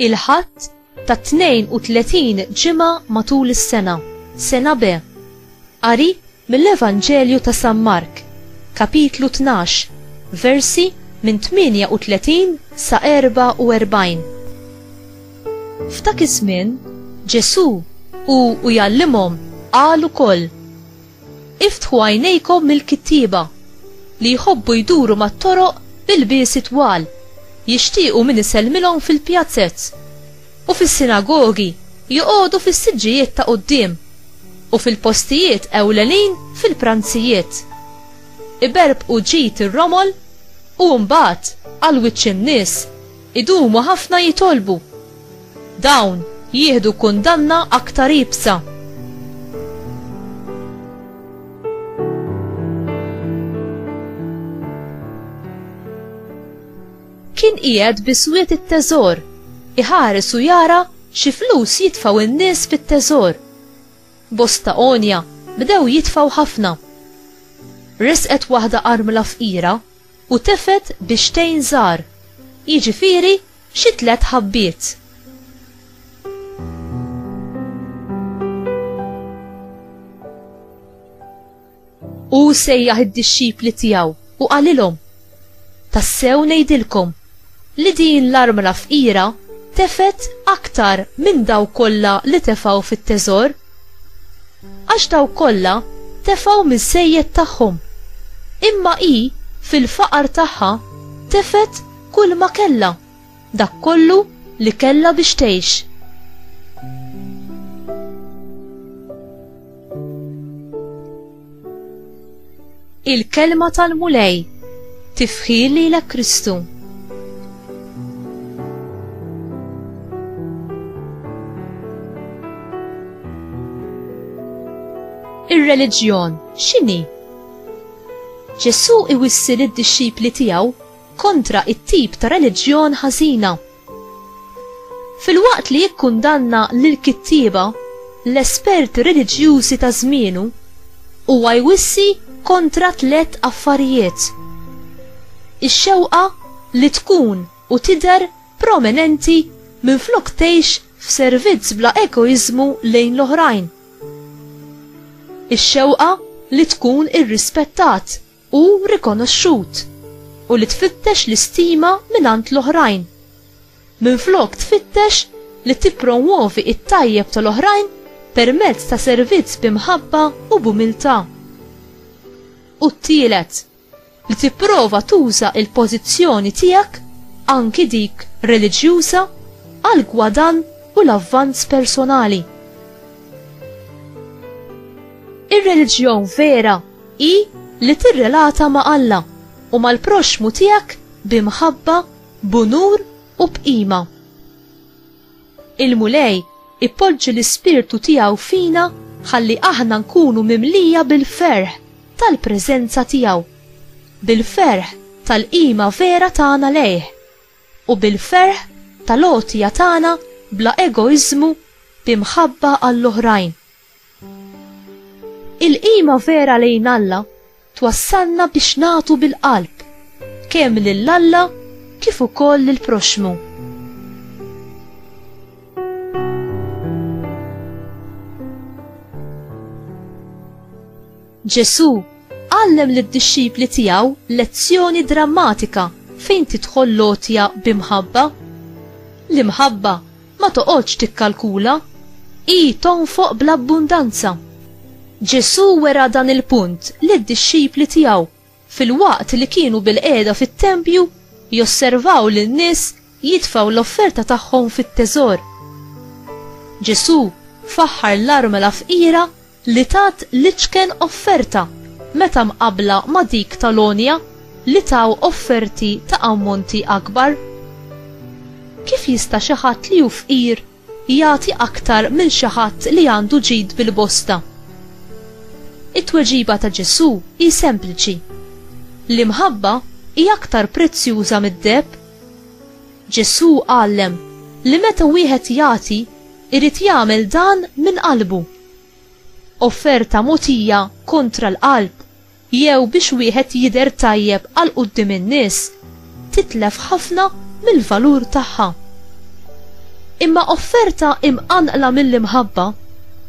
il-ħadd ta' 32 ġimgħa matul is-sena, sena B. Qari Mill-Evanġelju ta' San Mark, Kapitlu tnax, versi minn 38 sa 44. F'dak iż-żmien, Ġesù, hu u jgħallimhom, qal ukoll, Iftħu għajnejkom mill-kittieba, li jħobbu jduru mat-toroq b'ilbiesi twal, jixtiequ min isellmilhom fil-pjazzez. u fis-sinagogi, joqogħdu fis-siġġijiet ta' quddiem, u fil-postijiet ewlenin fil-pranzijiet. Iberbqu ġid ir-romol, u mbagħad, għal wiċċ in-nies, idumu ħafna jitolbu. Dawn jieħdu kundanna aktar iebsa. Kien qiegħed bi swied it-teżor, iħares u jara xi flus jitfgħu n-nies fit-teżor. Bosta għonja bdew jitfgħu ħafna. Resqet waħda armla fqira u tefgħet bixtejn żgħar, jiġifieri xi tliet ħabbiet. U sejjaħ id-dixxipli tiegħu u qalilhom, Tassew ngħidilkom li din l-armla fqira tefet aktar minn daw kollha li tefgħu fit-teżor. Għax daw kollha tefgħu miż-żejjed tagħhom, imma hi fil-faqar tagħha tefet kull ma kellha. Dak kollu li kellha biex tgħix. Il-kelma tal-Mulej tifħir lilek Kristu. ir-reliġjon x'inhi? Ġesù iwissi lid-dixxipli tiegħu kontra t-tip ta' reliġjon ħażina. Filwaqt li jikkundanna lill-kittieba, l-esperti reliġjużi ta' żmienu, huwa jwissi kontra tliet affarijiet, ix-xewqa li tkun u tidher prominenti minflok tgħix f'servizz bla egoiżmu lejn l-oħrajn, ix-xewqa li tkun irrispettat, u rikonoxxut u li tfittex l-istima mingħand l-oħrajn, minflok tfittex li tippromwovi t-tajjeb tal-oħrajn permezz ta' servizz bi mħabba u b'umiltà. U t-tielet, li tipprova tuża l-pożizzjoni tiegħek, anki dik reliġjuża, għall-gwadann u l-avvanz personali. Ir-reliġjon vera hi li tirrelata ma' Alla u mal-proxxmu tiegħek bi mħabba, b'unur u b'qima. Il-Mulej ipoġġi l-ispirtu tiegħu fina ħalli aħna nkunu mimlija bil-ferħ tal-preżenza tiegħu, bil-ferħ tal-qima vera tagħna lejh, u bil-ferħ tal-għotja tagħna bla egoiżmu bi mħabba għall-oħrajn. Il-qima vera lejn Alla twassalna biex nagħtu bil-qalb, kemm lil Alla kif ukoll lill-proxxmu. Ġesù għallem lid-dixxipli tiegħu lezzjoni drammatika fejn tidħol l-għotja bi mħabba. L-imħabba Ma toqgħodx tikkalkula, hi tonfoq bl-abbundanza. Ġesù wera dan il-punt lid-dixxipli tiegħu filwaqt li kienu bilqiegħda fit-tempju josservaw lin-nies jitfgħu l-offerta tagħhom fit-teżor. Ġesù faħħar l-armla fqira li tat l-iċken offerta meta mqabbla ma' dik tal-għonja li taw offerti ta' ammonti akbar? Kif jista' xi ħadd li hu fqir jagħti aktar minn xi ħadd li għandu ġid bil-bosta? It-tweġiba ta' Ġesù hi sempliċi, L-imħabba hi aktar prezzjuża mid-deheb. Ġesù għallem li meta wieħed jagħti, Irid jagħmel dan minn qalbu. Offerta mogħtija kontra l-qalb jew biex wieħed jidher tajjeb għal quddiem in-nies titlef ħafna mill-valur tagħha. Imma offerta imqanqla mill-imħabba,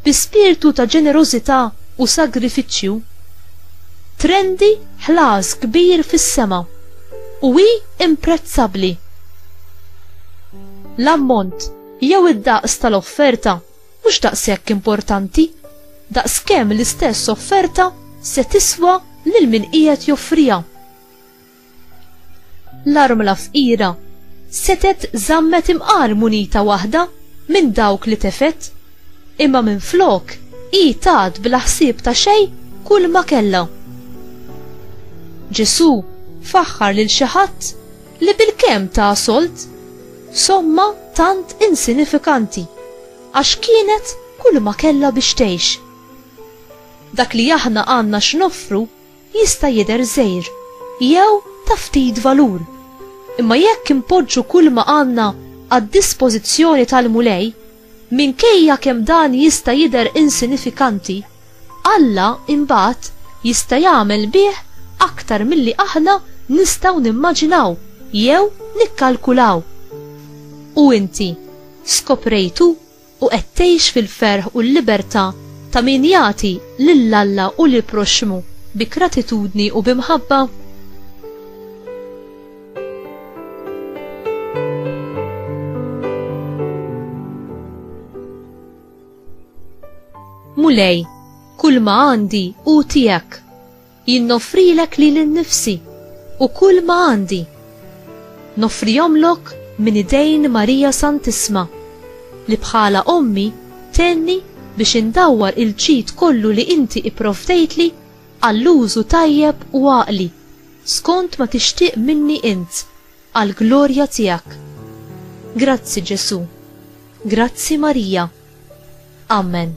bi spirtu ta' ġenerożità u sagrifiċċju, trendi ħlas kbir fis-sema u hi imprezzabbli. L-ammont. Jew id-daqs tal-offerta mhux daqshekk importanti daqs kemm l-istess offerta se tiswa lil min qiegħed joffriha. L-armla fqira setgħet żammet imqar munita waħda minn dawk li tefgħet, imma minflok hi tat bla ħsieb ta' xejn kulma kellha. Ġesù faħħar lil xi ħadd Li bilkemm ta solt somma tant insinifikanti għax kienet kull ma kellha biex tgħix. Dak li aħna għandna x'noffru jista' jidher żgħir jew ta' ftit valur, imma jekk inpoġġu kull ma għandna għad-dispożizzjoni tal-Mulej, Minkejja kemm dan jista' jidher insinifikanti, Alla imbagħad jista' jagħmel bih aktar milli aħna nistgħu nimmaġinaw jew nikkalkulaw. U inti skoprejtu u qed tgħix fil-ferħ u l-libertà ta' min jagħti lil Alla u lill-proxxmu bi gratitudni u bi mħabba? Mulej, kull ma għandi u tijak, jinnofrilek li l-nifsi u kull ma għandi. Nofrijomlok minn idejn Marija Santisma, li bħala ommi tenni biex indawwar il-ċit kollu li inti ipprovdejtli għall-użu tajjeb u għaqli. Skont ma tixtieq minni int, għall-glorja tiegħek. Grazzi Ġesù. Grazzi Marija. Amen.